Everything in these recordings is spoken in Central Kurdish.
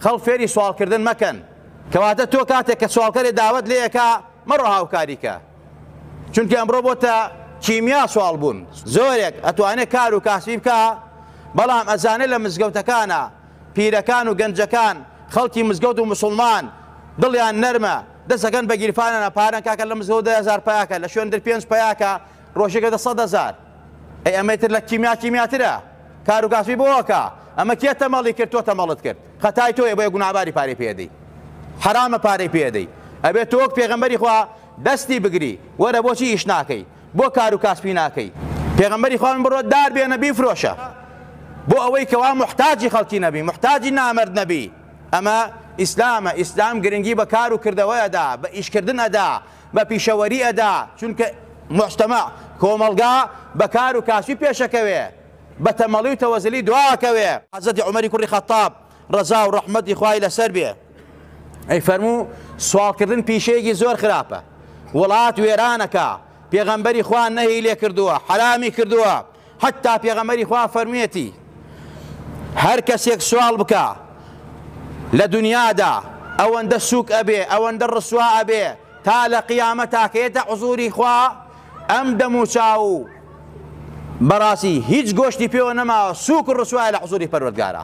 خەڵک فێری سواڵکردن مەکەن، کەواتە تۆ کاتێک کە سواڵکەرێ داوەت لێ ئەکا مەڕۆ هاوکاری کە، چونکە ئەمڕۆ بۆتە کیمیا سواڵ بوون، زۆرێک ئەتوانێ کار و کاسبی بکا، بەڵام ئەزانێ لە مزگەوتەکانا پیرەکان و گەنجەکان خەڵکی مزگەوت و موسوڵمان دڵیان نەرمە دەست ئەکەن بە گیرفانانا پارەن کاکە لە مزگەوت دە هەزار پەیا کە لە شوێندر پێنج پەیا کە ڕۆژێک ئەبێتە سەد هەزار، ئەی ئەمەی تر لە کیمیا کیمیاترە کاروکاسبی بۆ ئەکا ئەمە کێ تەمەڵی کرد تۆ تەمەڵت کرد خەتای تۆیە بۆیە گوناباری پارەی پێدەی حەرامە پارەی پێدەی ئەبێت تۆ وەک پێغەمبەری خوا دەستی بگری وەرە بۆچی ئیش ناکەی بۆ کاروکاسبی ناکەی پێغەمبەری خوان بڕۆ دار بێنە بیفرۆشە بۆ ئەوەی کەوا محتاجی خەڵکی نەبی محتاجی نامرد نەبی ئەمە ئیسلامە ئیسلام گرنگی بە کار و کردەوەیەدا بە ئیشکردن ئەدا بە پیشەوەری ئەدا چونکە موجتەمەع، کۆمەڵگا، بە کار و کاسبی پێشەکەوێ بە تەمەڵی و تەوەزلی دوا ئەکەوێ. حەزرەتی عومەری کوڕی خەتاب ڕەزا و ڕەحمەتی خوای لەسەر بێ ئەیفەرموو، سواڵکردن پیشەیەکی زۆر خراپە وڵات وێرانەکا، پێغەمبەری خوا نەهی لێ کردووە حەرامی کردووە حەتتا پێغەمبەری خوا فەرموویەتی، هەر کەسێک سواڵ بکا لە دونیادا ئەوەندە سووک ئەبێ، ئەوەندە ڕسوا ئەبێ تا لە قیامەت تاکەیەتە حوزوری خوا ئەم دەم و چاو و بەڕاستی هیچ گۆشتی پێوە نەماوە سووک و ڕسوایە لە حوزوری پەروەردگارە.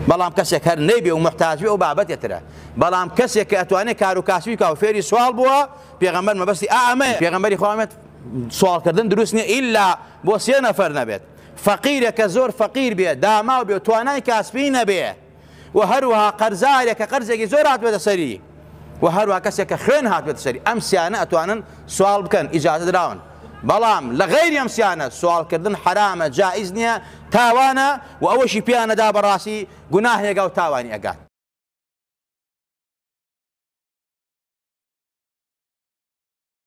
بەڵام کەسێک هەر نەیبێ و محتاج بێ و بابەتێترە بەڵام کەسێک کە ئەتوانێت کار و کاسبی کا و فێری سوال بووە پێغەمبەر مەبەستی ئا ئەمەیە پێغەمبەری خوا فەرموویەتی، سوال کردن دروست نیە ئیلا بۆ سێ نەفەر نەبێت فەقیرێک کە زۆر فەقیر بێ داماو بێ توانای کاسپی نەبێ و هەروها قەرزارێک کە قەرزێکی زۆر هاتبێتە سەری و هەروها کەسێک کە خوێن هاتبێت سەری ئەم سیانە ئەتوانن سوال بکەن ئیجازە دراون بەڵام لە غەیری ئەم سیانە سوالکردن حرامە جائز نییە تاوانە و ئەوەشی پیانەدا بەڕاستی گوناهێگا و تاوانی ئەگات